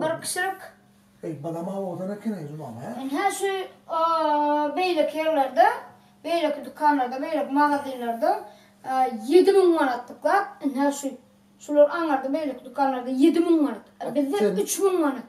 Bir kişilik. Eý, balam-a owadan eken-eý, Zumam, hä? Ine, şu beýleki ýerlerde, beýleki dükanlarda, beýleki magazinlerde ýedi müň manat dyklap, ine, şu şular aňarda beýleki dükanlarda ýedi müň manat, a bizde üç müň manat.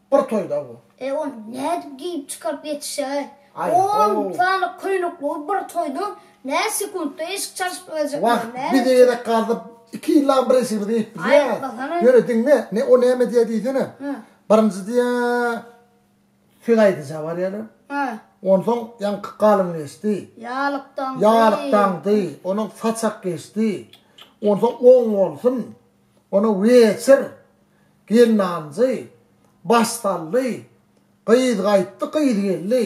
Bir toýda bu. E ony nädip geýip çykaryp ýetişäý? Aý ho. On sany köýnekligiz bir toýda nä sekuntda eşik çalyşyp biljekmi? Wah, Näme bize etjek? gezek galdyp iki ýyllabam bir eşigimizi geýip bilýäs. Aýtmasana. Ýöne diňle, ne o näme diýýär diýsene. Hä. Birinji diýýär, söz aýdyja barýaryn. Hä. Onsoň ýaňky galyň geçdi. Ýalykdaňdy. Ýalykdaňdy. Onuň saçak geçdi. Onsoň oň bolsun. Onuň weçir, gelnanjy, başsally, gyz gaýtdy, gyz geldi.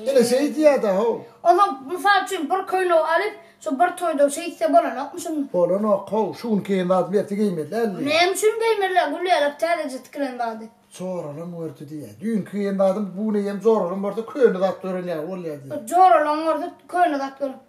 Ine şeý diýýär-dä-how. Onuň, mysal üçin, bir köýnegi alyp, şu bir toýda şeýtse bolanokmy şunda? Bolanok-how, şu gün geýen zadymy ertir geýmeli däldi. Näme üçin geýmeli-ä, Gülýarak täzeje tikilen zady. Joralaň gördi diýýär. Düýnki geýen zadym bu gün eýýäm joralaň görse köne zat gören ýaly bolýar diýýär. Joralaň görse köne zat gören.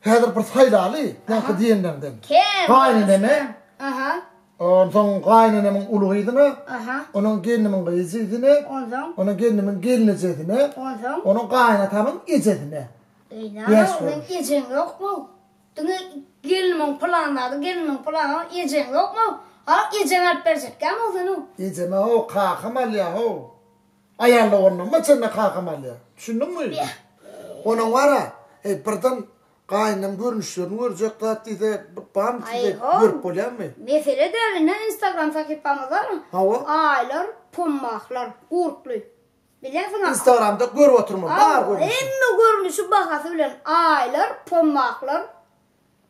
Häzir bir saýlaly, ýaňky diýenleriňden. Gaýyneneme, onsoň gaýynenemiň uly gyzyna, onuň gelnimiň gyzjisine, onuň gelnimiň gelnejesine, onuň gaýynatamyň ejesine. Eý, näme, seniň ejeň ýokmy? Diňe gelnimiň pylan zady, gelnimiň pylan zady, ejeň ýokmy? A, ejeň alyp berjekkäm-ow seniň? Ejeme-how, kakam alýa-how. Aýal doganlygyma çenli kakam alýar. Düşündiňmi? Onuň bar-a, heý, birden gaýynynam görnüşlerini görjek zat diýse, bamy sizde, görüp bolýarmy? Mesele däl, ine, instagram sahypamyz bar. Hawa. Aýlar, pommahlar, gurply. Bilýänsiň-a. Instagramda görüp otyrmyň, bar görnüşi. Hemme görnüşi, bahasy bilen. Aýlar, pommahlar.